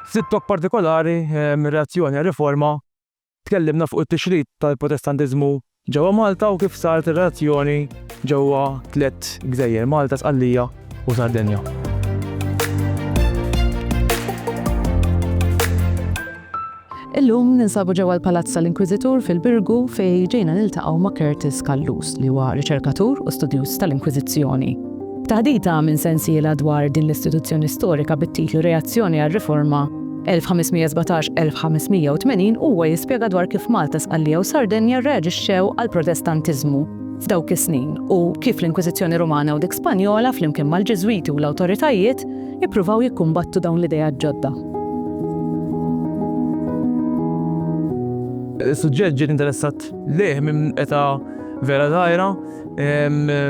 Ftit lok partikolari mir-reazzjoni għar-riforma tkellimna fuq it-tixrid tal-Protestantiżmu ġewwa Malta u kif saret ir-reazzjoni ġewwa tliet gżejjer, Malta, Sqallija u Sardenja. Illum ninsabu ġewwa l-Palazz tal-Inkwiżitur fil-Birgu fejn ġejna niltaqgħu ma' Curtis Callus li huwa riċerkatur u studjuż tal-Inkwiżizzjoni. Taħdita minn sensiela dwar din l-istituzzjoni storika bit-titlu Reazzjoni għar-Riforma 1517-1580 huwa jispjega dwar kif Malta, Sqallija u Sardenja rreaġixxew għall-Protestantiżmu f'dawk is-snin u kif l-Inkwiżizzjoni Rumana u dik Spanjola flimkien mal-Ġiżwiti u l-awtoritajiet ippruvaw jikkumbattu dawn l-ideat ġodda. Is-suġġett ġiet interessat lejh minn età vera żgħira.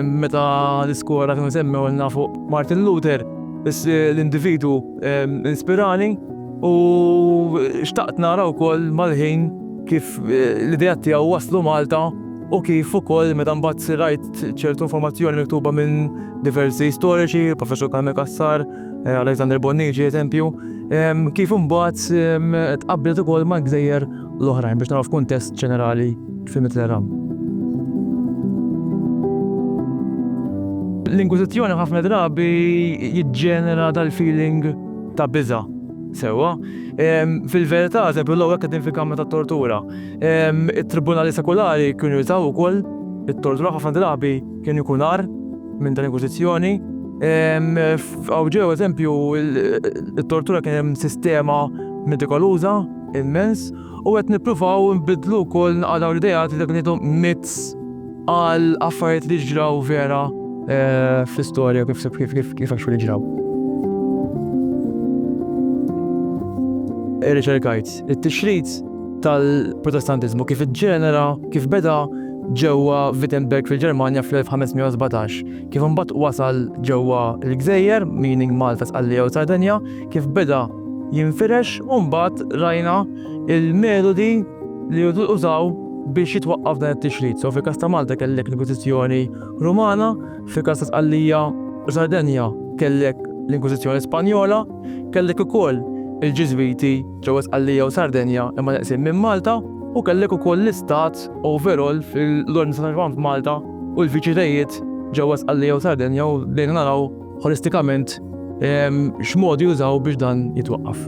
Meta l-iskola kienu semmewlna fuq Martin Luther, l-individwu inspirani u xtaqt nara wkoll mal-ħin kif l-ideat tiegħu waslu Malta u kif ukoll meta mbagħad rajt ċertu informazzjoni miktuba minn diversi storiċi, il-Professur Carmen Cassar, eh, Alexander Bonnici eżempju, kif imbagħad tqabblet ukoll ma' gżejjer l-oħrajn biex naraw f'kuntest ġenerali fil-Mitterrand. L-Inkwisizzjoni ħafna drabi jiġġenera dal-feeling ta' biża' sewa. Fil-verità, eżempju, l għek din fil-kamra ta' tortura. Il-tribunali sekulari kienu jużaw ukoll it-tortura ħafna drabi Kien ikun agħar minn dan inkwisizzjoni. Hawn ġew eżempju it-tortura kien hemm sistema metikoluża immens u qed nippruvaw nbiddlu wkoll naqadaw l-idejat li dak ngħidu myths għal affarijiet li ġraw vera fl-istorja kif kif kif kif għax li ġraw. Irriċerkajt it-tixrid tal-Protestantiżmu kif iġġenera, kif beda, ġewwa Wittenberg fil-Ġermanja fl-1517. Kif imbagħad wasal ġewwa l-gżejjer, meaning Malta, Sqallija u Sardenja, kif beda jinfirex u mbagħad rajna l-metodi li użaw biex jitwaqqaf dan it-tixrid. So fil-każ ta' Malta kellek l-Inkwiżizzjoni Rumana, fil-każ ta' Sqallija u Sardenja kellek l-Inkwiżizzjoni Spanjola, kellek ukoll il-Ġiżwiti, ġewwa Sqallija u Sardenja imma neqsin minn Malta u kellek ukoll l-istat overall fil-Ordni ta' San Ġwann f'Malta u l-fiċilitajiet ġewwa Sqallija u Sardenja u bdejna naraw ħolistikament x'modi jużaw biex dan jitwaqqaf.